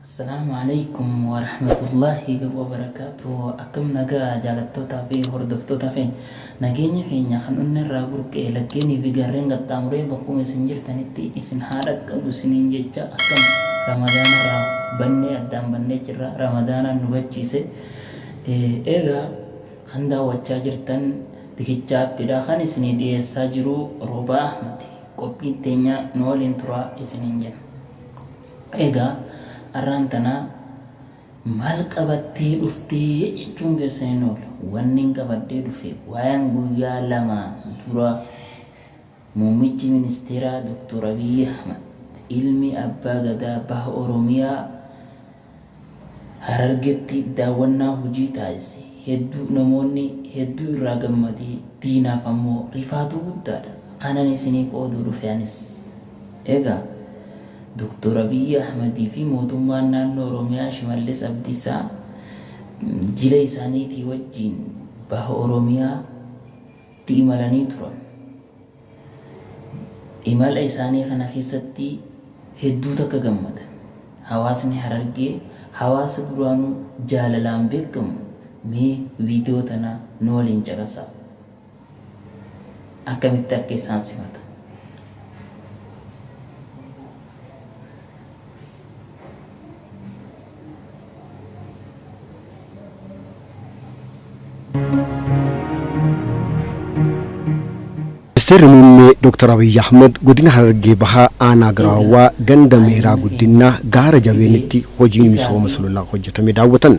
Assalaamu aleykum warahmatullaahi wabarakaatuhu akkam nagaa jaalattootaa fi hordoftoota keenya nageenyi keenya kan onneerraa burqee laggeenii fi gaarreen qaxxaamuree bakkuma isin jirtanitti isin haa dhaqqabu isiniin jecha akkam ramadaanarraa bannee addaan bannee jirra ramadaanaan nu gachiise eegaa kan daawwachaa jirtan bikichaa appidhaa kan isinii dhiyeessaa jiru roobaa ahmati qophiin teenyaa nu waliin turaa isiniin jenna. Egaa arraan tana maal qabattee dhufte jechuun keessan hin oolu. Wannin qabadhee dhufe waayeen guyyaa lama dura muummichi ministeeraa Doktor Abiyyi Ahmad ilmi abbaa gadaa baha Oromiyaa Harargetti daawwannaa hojii taasise hedduu namoonni hedduu irraa gammade diinaaf ammoo rifaatuu guddaadha kanan isinii qooduu dhufe anis. Egaa Doktor Abiyyi Ahmad fi mootummaan naannoo Oromiyaa Shimallis Abdiisaa jila isaaniitii wajjiin baha Oromiyaa tti imalanii turan. Imala isaanii kana keessatti hedduu takka gammadan. Hawaasni Harargee hawaasa duraanuu jaalalaan beekkamu mee viidiyoo tana nu waliin caqasaa. Akkamitti akka isaan simatan. Ministeerri Muummee Dr. Abiyyi Ahmad godina Harargee Bahaa aanaa Giraawaa ganda Meeraa Guddinnaa gaara jabeenitti hojii misooma sululaa hojjetame daawwatan.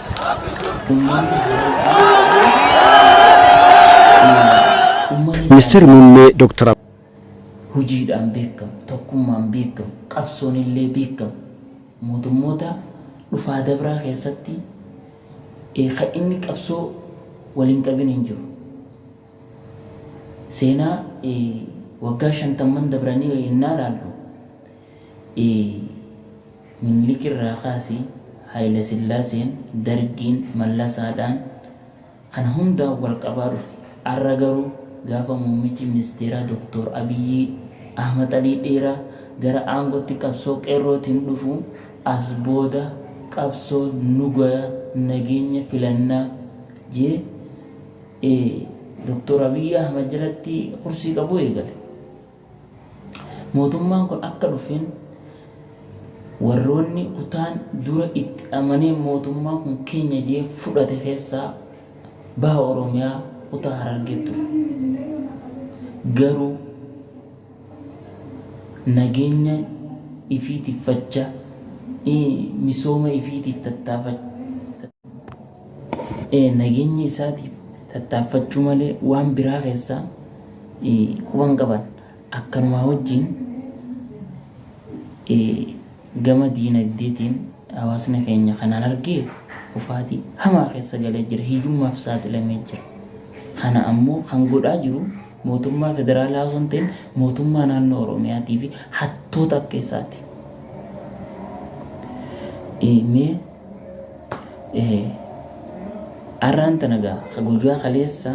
Ministeerri Muummee Dooktar Abiyyi. Hojiidhaan beekamu, tokkummaan beekamu, qabsoon illee beekamu. Mootummoota dhufaa dabraa keessatti kan inni qabsoo wal hin qabin hin jiru. Seenaa waggaa shantamman dabranii yennaa ilaallu i. Minilik irraa kaasii Hayilasillaaseen, Dargiin, Mallasaadhaan kana hundaan wal qabaa dhufe. Arra garuu gaafa muummichi ministeeraa Doktoor Abiyyii Ahmad Alii Dheeraa gara aangootti qabsoo Qeerrootiin dhufu as booda qabsoo nugaya, nageenya, filannaa je, ee Doktoor Abiyyii Ahmad jalatti kursii qabuu eegale. Mootummaan kun akka dhufeen warroonni kutaan dura itti amanee mootummaan kun keenya jedhee fudhate keessaa baha Oromiyaa kutaa Harargee ture. Garuu nageenya ifii tiffacha, misooma ifiitiif tattaafachaa, nageenya isaatiif tattaaffachuu malee waan biraa keessa quba hin qaban. Akkanumaa wajjin gama diinagdeetiin hawaasni keenya kanaan argee kufaatii hamaa keessa galee jira. Hiyyummaaf saaxilamee jira. Kana ammoo kan godhaa jiru mootummaa federaalaa osoo hin ta'in mootummaa naannoo Oromiyaatii fi hattoota akka isaati. Mee Arraan tana gaa ka guyyaa kaleessa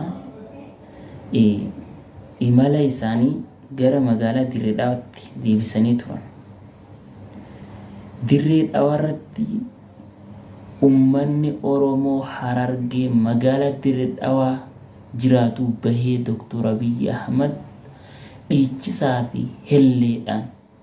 imala isaanii gara magaalaa Dirree Dhawaatti deebisanii turan. Dirree Dhawaarratti ummanni Oromoo Harargee magaalaa Dirree Dhawaa jiraatu bahee Dooktor Abiyyi Ahmad dhiichisaa fi helleedhaan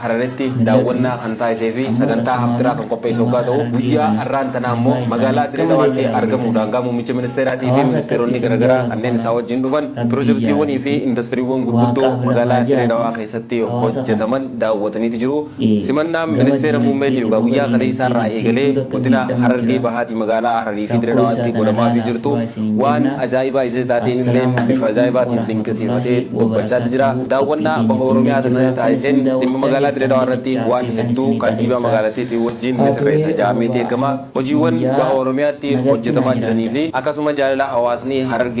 Hararitti daawwannaa kan taasisee fi sagantaa Haftiraa kan qopheesse oggaa ta'u, guyyaa arraan tanaa immoo magaalaa Dire Dawaatti argamuun daangaa muummicha ministeeraatii fi ministeeronni garagaraa kanneen isaa wajjin dhufan pirojektiiwwanii fi indastiriiwwan gurguddoo magaalaa Dire Dawaa keessatti hojjataman daawwataniiti jiru. Simannaan ministeera muummeetiif egaa guyyaa kaleessaarraa eegalee godina Harargee Bahaatii magaalaa Hararii fi Dire Dawaatti godhamaafii jirtu waan ajaa'ibaa isatti taateenillee bifa ajaa'ibaatiin dinqisiifatee dubbachaati jira. Daawwannaa Baha Oromiyaa Taddasaa taasiseen dhimma magaalaa Dirree Dhawaa irratti waan hedduu kantiibaa magaalattiitiin wajjiin ni sirreessa ja'ameeti eegama. Hojiiwwan Baha Oromiyaatti hojjetamaa jiranii fi akkasuma jaalala hawaasni Harargee